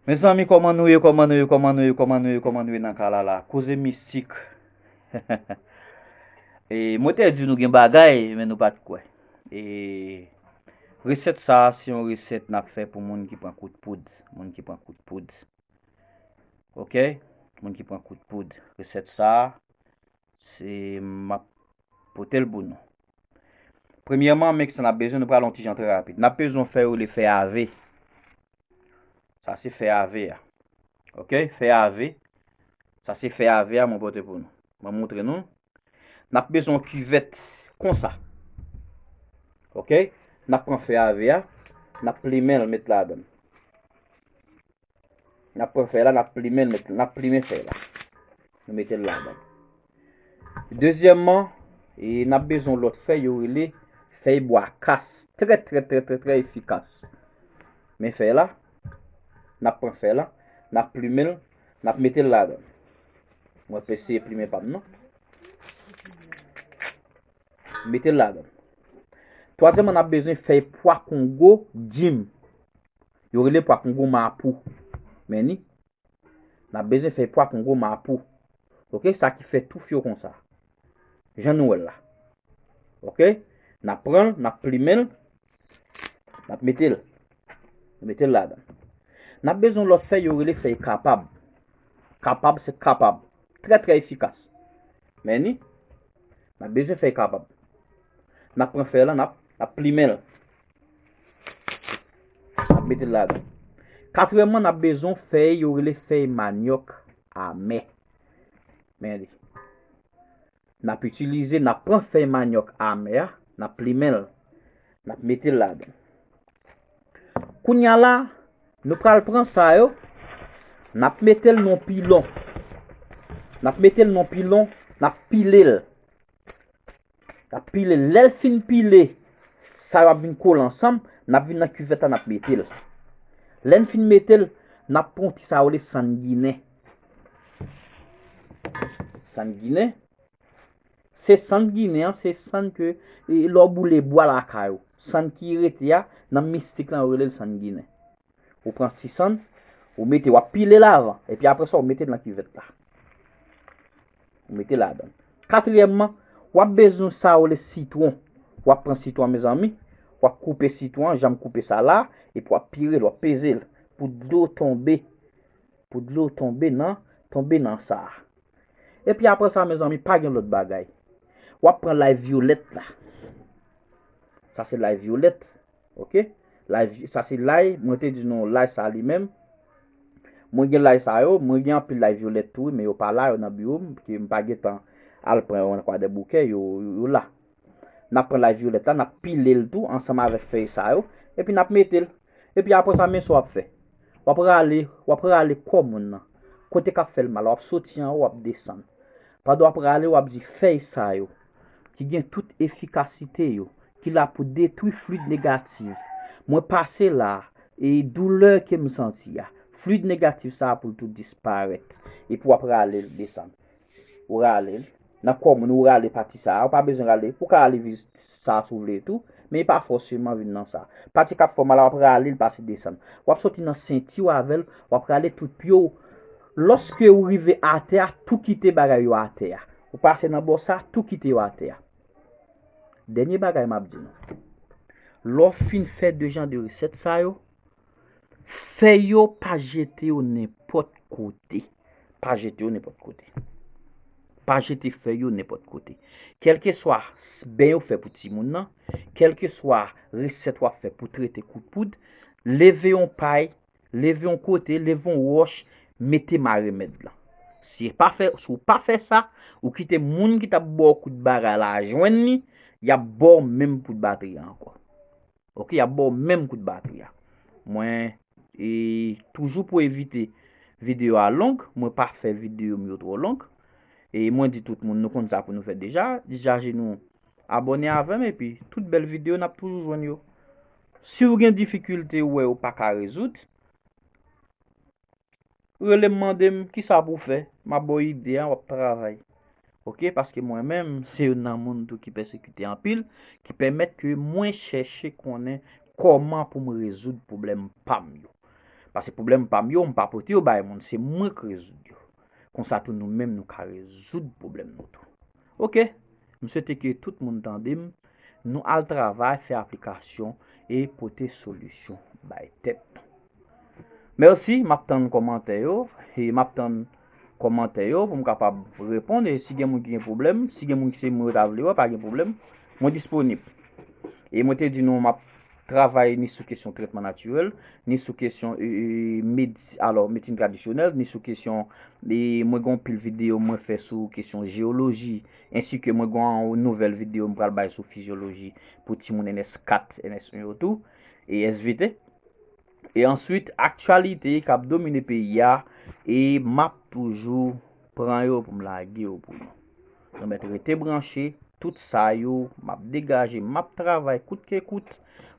Mezanmi koman nou ye koman nou ye koman nou ye koman nou ye koman nou ye nan kay la la koze mistik e mwen te di nou gen bagay men nou pat kwe e reset sa se yon reset nap fe pou moun ki pran kout poud moun ki pran kout poud ok moun ki pran kout poud reset sa se map potel pou nou Premyèman, men kisa n ap bezwen, nou pral yon ti jan trè rapid. N ap bezwen yon fè yo rele fè AV. Sa se fè AV a. Ok, fè AV. Sa se fè AV a mwen pote pou nou. Mwen montre nou. N ap bezwen yon kivèt konsa. Ok, n ap pran fè AV a, n ap plimen l met ladan l. N ap pran fèy la, n ap plimen l, n ap plimen fèy la. Nou mete l ladan. Dezyèmman, e n ap bezwen lòt fèy yo rele fèy bwa kas. Trè trè trè trè trè efikas. Men fèy la, n ap pran fèy la, n ap plimen l, n ap mete l ladan. Mwen ap eseye plimen pa m nan. Mete l ladan. Twazyèmman, n ap bezwen fèy pwa kongo dim. Yo rele pwa kongo mapou men ni nap bezwen fèy pwa kongo mapou ok sa ki fè touf yo konsa jan nou wèl la ok nap pranl nap plimenl nap metel nou metel ladan nap bezwen yon lòt fèy yo rele fèy kapab kapab se kapab trè trè efikas men ni nap bezwen fèy kapab nap pran fèy lan nap plimenl. Nap mete l ladan. Katriyèmman nap bezwen fèy yo rele fèy manyòk amè. Men li. Nap itilize, nap pran fèy manyòk amè a, nap plimen l. Nap mete l ladan. Kounya la, nou pral pran sa yo, nap mete l nan yon pilon. Nap mete l nan yon pilon, nap pile l. Lap pile, lèl fin pile, sa yo ap vin kole ansanm, nap vin nan kivèt la nap metel. Lèn fin metel, nap pran yon ti sa yo rele sann ginen. Sann ginen, se sann ginen an, se sann ke lè w boule bwa lakay ou. Sann ki rete a, nan mistik lan yo relel sann ginen. Ou pran 600, ou mete, wap pile la avan. E pi apresa ou mete nan kivet la. Ou mete la adan. Katriyèmman, wap bezwen sa yo le sitwon. Wap pran sitwon mezanmi, wap koupe sitwon, janm koupe sa la, e pi wap pire l, wap peze l. Pou dlo tonbe, pou dlo tonbe nan, tonbe nan sa a. E pi apresa mezanmi, pa gen lòt bagay. Wap pran lay violèt la. Sa se lay violèt. ok lay sa se lay mwen te di nou lay sa li menm mwen gen lay sa yo mwen gen anpil lay violette tou wi men yo pa la yo nan biwo m pke m pa gen tan al pran yo nan kwadèboukè yo yo la nap pran lay violette la nap pile l tou ansanm avèk fèy sa yo epi nap mete l epi aprè sa men sa wap fè wap rale wap rale kò moun nan kote kap fèl mal la wap soti anwo wap desann pandan wap rale wap di fèy sa yo. ki gen tout efikasite yo, ki la pou detwi fluid negatif, mwen pase la a, e doulè ke m santi a, fluid negatif sa a pou l tou disparèt. Epi w ap rale l desann. Ou rale l, nan kò moun ou rale pati sa a, ou pa bezwen rale, ou ka rale jis sa si w vle tou, men e pa fòseman vin nan sa. Pati k ap fè w mal a w ap rale l pase desann. W ap soti nan senti w avè l, w ap rale tout pye w, lòske ou rive atè a, tou kite bagay yo atè a. Ou pase nan bò sa, tou kite yo atè a. Dènye bagay m ap di nou, lè w fin fè de jan de resèt sa yo, fèy yo pa jete yo nenpòt kote. Pa jete yo nenpòt kote. Pa jete fèy yo nenpòt kote. Kèlkeswa ben yo fè pou timoun nan, kèlkeswa resèt w ap fè pou trete kout poud, leve yon pay leve yon kote, leve yon wòch, mete ma remèd lan. Si ou pa fè sa, ou kite moun ki t ap ba w kout bagay la jwenn li, y ap ba w menm kout batri a ankò. Oke, y ap ba w menm kout batri a. Mwen e toujou pou evite videyo a long, mwen pa fè videyo m yo twò long. E mwen di tout moun nou konn sa pou nou fè deja, dechaje nou. Abòne avèm epi tout bèl video nap toujou jwenn yo. Siw gen difikilte ou wè ou paka rezoud, relem mandem kisa pou fè, map baw ide a wap travay. Ok paske mwen menm se youn nan moun tou ki pèsekite anpil ki pèmèt ke mwen chèche konnen kòman poum rezoud pwoblèm pam yo. Paske pwoblèm pam yo mpa pote yo bay moun se mwen k rezoud yo. Konsa tou nou menm nou ka rezoud pwoblèm nou tou. Ok m swete ke tout moun tande m nou al travay fè aplikasyon e pote solisyon bay tèt nou merci map tann kòmantè yo e map tann kòmantè yo pou m kapab reponn e si gen moun ki gen pwoblèm si gen moun ki se moun yo ta vle wè pa gen pwoblèm mwen disponib e mwen te di nou map travay ni sou kesyon trètman natirèl, ni sou kesyon medsin tradisyonèl, ni sou kesyon, mwen gen yon pil videyo mwen fè sou kesyon jeyoloji, ensi ke mwen gen yon nouvèl videyo m pral bay sou fizyoloji pou timoun ns 4, ns 1 yo tou, e svp. E answit aktyalite kap domine peyi a e map toujou pran yo poum lage yo pou nou. Nou mèt rete branche, tout sa yo map degaje, map travay kout ke kout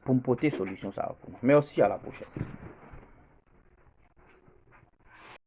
poum pote solisyon sa yo pou nou. Mèsi a la pwochèn.